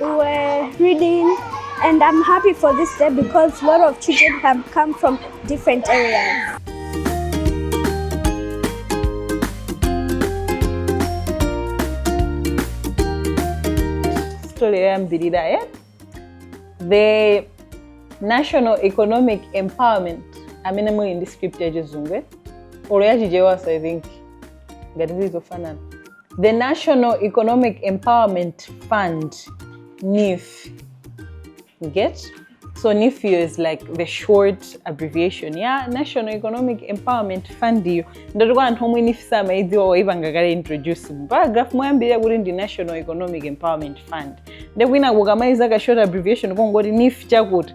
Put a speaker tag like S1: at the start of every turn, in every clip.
S1: We were reading and I'm happy for this day because a lot of children have come from different
S2: areas. Story yake yoyambirira eh? The National Economic Empowerment amene muli ndi script ya chizungu eh? olo ya chichewa so i think ngati zili zofanana The National Economic Empowerment Fund, NEEF. You get? So NEEF iyo is like the short abbreviation ya National Economic Empowerment Fund iyo ndiye kuti kwa anthu omwe NEEF samaidziwa waipanga kale introduce mu paragraph moyambirira kuti ndi National Economic Empowerment Fund nde kwina kukamaika ka short abbreviation kongoti NEEF chakuti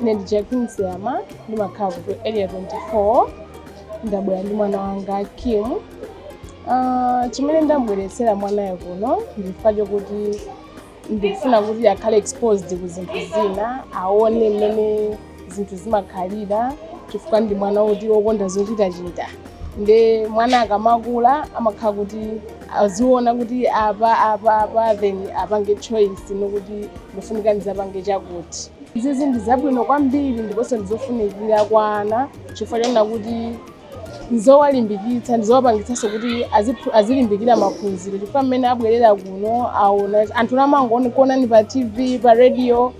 S3: ine ndi jacqueline siyama ndimakhala ku area 24 ndabwera ndi mwana wanga kim Ah, chimene ndambweretsera mwanayo kuno nchifukwa chokuti ndikufuna kuti akhale exposed ku zinthu zina aone mmene zinthu zimakhalira chifukwa ndi mwana woti wokonda zochitachita nde mwana akamakula amakhala kuti aziona kuti apa apa apa then apange choice yokuti ndifunika ndizapange chakuti izizi ndi zabwino kwambiri ndiponso ndizofunikira kwa ana chifukwa chonena kuti ndizowalimbikitsa ndizowapangitsanso kuti aziphu- azilimbikira maphunziro chifukwa mmene abwerera kuno aona anthu amangokuonani pa tv pa radio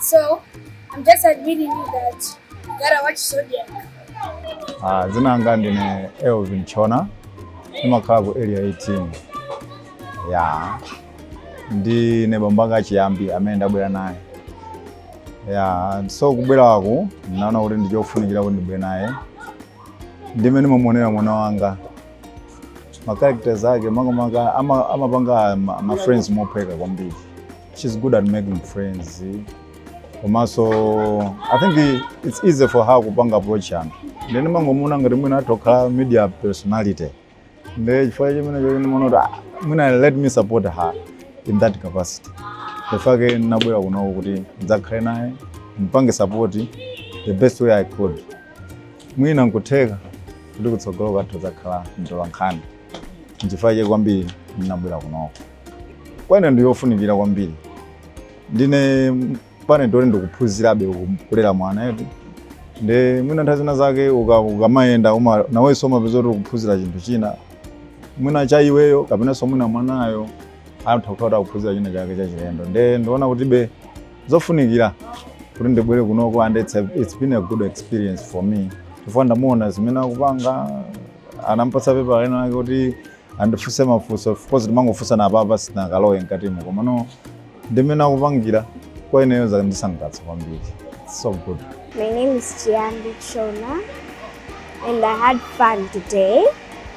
S4: So I'm just urging you that you gotta watch Zodiak.
S5: Ah, dzina langa ndine Elvin Chona ndimakhala ku area 18 ya ndine bambo ake a chiyambi amene ndabwera naye ya so kubweraku ndinaona kuti ndichofunikira kuti ndibwere naye ndi mmene ndimamuonera mwana wanga ma characters ake makamaka ama- amapanga ma, ma friends mophweka kwambiri she's good at making friends komanso i think it's easy for her kupanga approach anthu nde ine ndimangomuona ngati mwina atha kukhala media personality nde chifukwa chimenecho ndinaona kuti "Ah, mwina let me support her in that capacity nchifukwa chake nabwera kunoko kuti ndidzakhale naye mpange support the best way i could mwina nkutheka kuti kutsogoloku atha kudzakhala mtolankhani nchifukwa chake kwambiri ndinabwera kunoko kwa ine ndi yofunikira kwambiri ndine parent woti ndikuphunzirabe kulera mwana eti nde mwina nthawi zina zake uka- ukamayenda uma- nawenso umapeza kuti ukuphunzira chinthu china mwina cha iweyo kapenanso mwina mwanayo atha kukhala akuphunzira china chake chachilendo nde ndiona kuti be zofunikira kuti ndibwere kunoku and it's, a, it's been a good experience for me chifukwa ndamuona zimene akupanga anampatsa pepala lina lake kuti andifunse mafunso of course ndimangofunsana pa apa sindinakalowe mkatimo komano ndimene akupangira kwa ineyo zandisangalatsa kwambiri It's so good My name is
S1: Chiambi Chona, and I had fun today.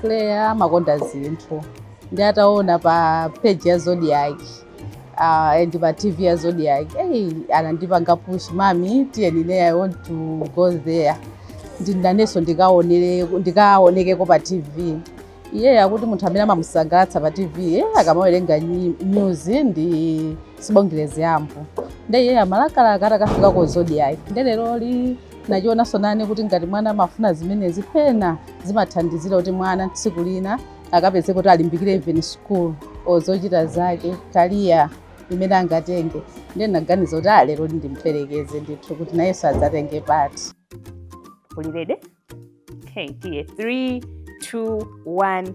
S6: Claire amakonda zinthu nde ataona pa page ya Zodiak uh, and pa TV ya Zodiak hey, anandipanga push mami tiyeni ne I want to go there ndinenso ndikaonere ndikaonekeko pa TV iye akuti munthu amene amamusangalatsa pa TV eh, akamawerenga nyi- news ndi Sibongile Zyambo nde iye amalakalaka atakafika ku Zodiak nde lero li nachionanso nanenso kuti ngati mwana amafuna zimenezi pena zimathandizira kuti mwana tsiku lina akapezeke kuti alimbikire even school or zochita zake career imene angatenge ndiye ndinaganiza kuti ah lero li ndimperekeze ndithu kuti nayenso adzatenge part Are you
S7: ready? Okay, dear. Three, two, one.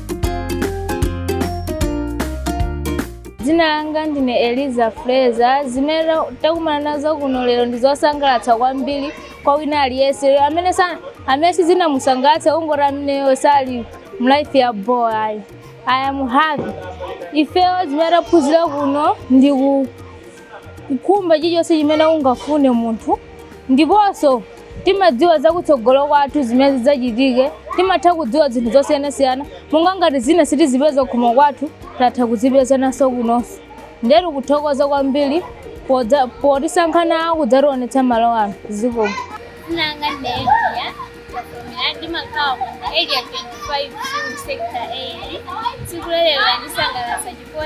S8: dzina langa ndine Eliza Fraser zimene takumana nazo kuno lero ndi zosangalatsa kwambiri kwa wina aliyense amene sa- amene sizinamusangalatse kungoti ameneyo sali mlife ya bo ayi i am happy ifeyo zimene taphunzira kuno ndi ku kukhumba chilichonse chimene ungafune munthu ndiponso timadziwa za kutsogolo kwathu zimene zidzachitike timatha kudziwa zinthu zosiyanasiyana monga ngati zina sitizipeza kuhome kwathu tatha kuzipezanso kunonso ndetu kuthokoza kwambiri podza- potisankha
S9: nawo
S8: kudzationetsa malo ano zikomo Dzina
S9: langa
S8: Nelia,
S10: Katomera ndimakhala mu area 25 mu sector 8. Tsiku lero landisangalatsa chifukwa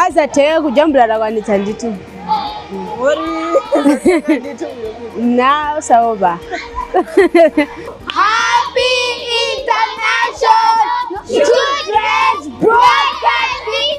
S7: azathe kujambula atakwanitsa ndithu nawo osaopa
S11: Happy International Children's Broadcasting